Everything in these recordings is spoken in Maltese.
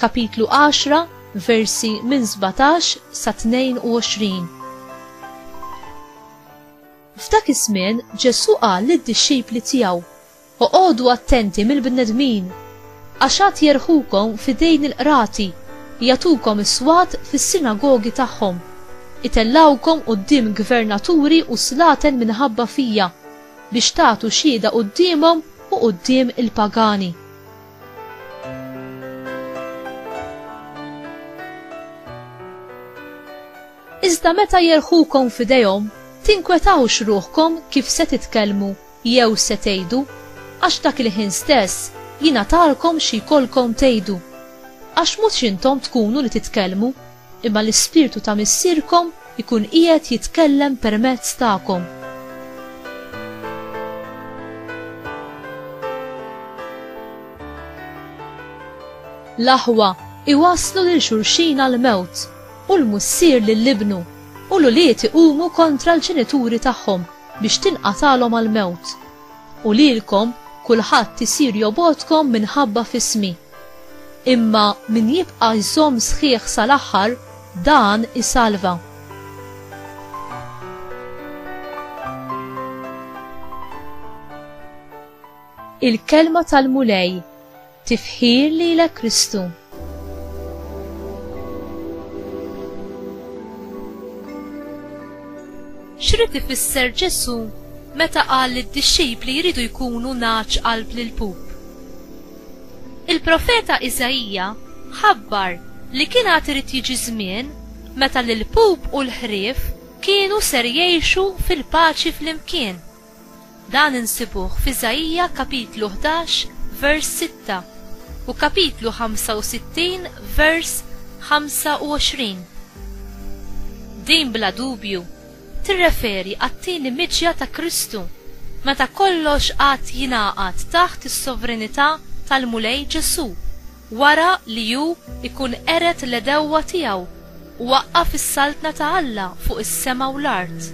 Kapitlu 10, versi minn 17 sa 22. F'dak iż-żmien Ġesù qal lid-dixxipli tiegħu, Oqogħdu attenti mill-bnedmin, għax għad jerħukom f'idejn il-qrati, jagħtukom is-swat fis-sinagogi tagħhom, itellgħukom quddiem gvernaturi u slaten minħabba fija, biex tagħtu xhieda quddiemhom u quddiem il-pagani. Iżda meta jerħukom f'idejhom, tinkwetawx ruħkom kif se titkellmu jew se tgħidu, għax dak il-ħin stess jingħatalkom xi jkollkom tgħidu. Għax mhux intom tkunu li titkellmu, Imma l-Ispirtu ta' Missierkom ikun qiegħed jitkellem permezz tagħkom. L-aħwa iwasslu lil xulxin għall-mewt, u l-mussier lil ibnu, u l-ulied iqumu kontra l-ġenituri tagħhom biex tinqatagħlhom għall-mewt. U lilkom kulħadd isir jobgħodkom minħabba f'ismi. Imma min jibqa' jżomm sħiħ sal-aħħar, dan isalva. Il-Kelma tal-Mulej, tifħir lilek Kristu. X'rid ifisser Ġesu meta qal li d-dixxipli jridu jkunu naċ qalb lil pup? Il-profeta Iżaija ħabbar li kien għad irid jiġi żmien meta l-ilpup u l-ħrief kienu ser jgħixu fil-paċi flimkien. Dan insibuh f'Iżaija kapitlu 11 vers 6 u kapitlu 65 vers 25. Din bla dubju tirreferi għat-tieni miġja ta' Kristu, meta kollox għad jingħaqad taħt is-sovranità tal-Mulej Ġesù, wara li hu jkun qered l-għedewwa tiegħu u waqqaf is-saltna ta' Alla fuq is-sema u l-art.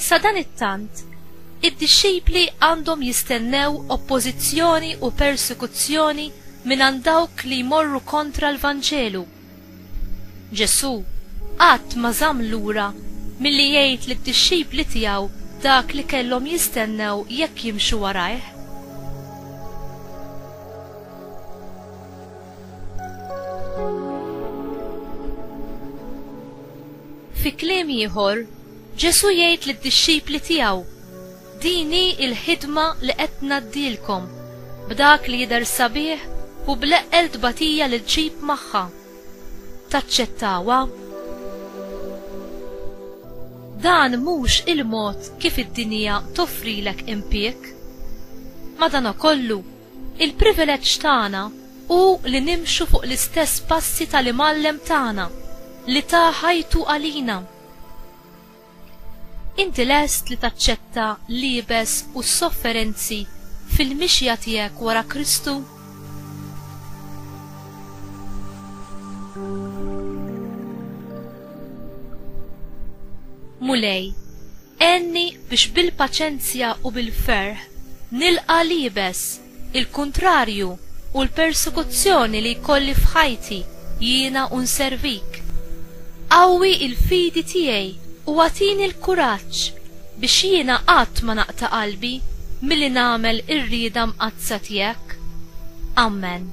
Sadanittant, id-dixxipli għandhom jistennew oppożizzjoni u persekuzzjoni mingħand dawk li jmorru kontra l-Vanġelu. Ġesù qatt ma żamm lura milli jgħid lid-dixxipli tiegħu dak li kellhom jistennew jekk jimxu warajh. Fi kliem ieħor, Ġesù jgħid lid-dixxipli tiegħu, Din hi l-ħidma li qed ngħaddilkom, b'dak li jidher sabiħ u bl-eqqel tbatija li ġġib magħha. Taċċettawha? Dan mhux il-mod kif id-dinja toffrilek impieg. Madankollu, il-privileġġ tagħna hu li nimxu fuq l-istess passi tal-Imgħallem tagħna li ta ħajtu għalina. Inti lest li taċċetta l-iebes u s-sofferenzi fil-mixja tiegħek wara Kristu? Mulej, għenni biex bil-paċenzja u bil-ferħ nilqa' l-iebes il-kuntrarju u l-persekuzzjoni li jkolli f'ħajti jiena u nservik. Qawwi l-fidi tiegħi u agħtini l-kuraġġ biex jiena qatt ma naqta' qalbi milli nagħmel ir-rieda mqaddsa tiegħek. Ammen.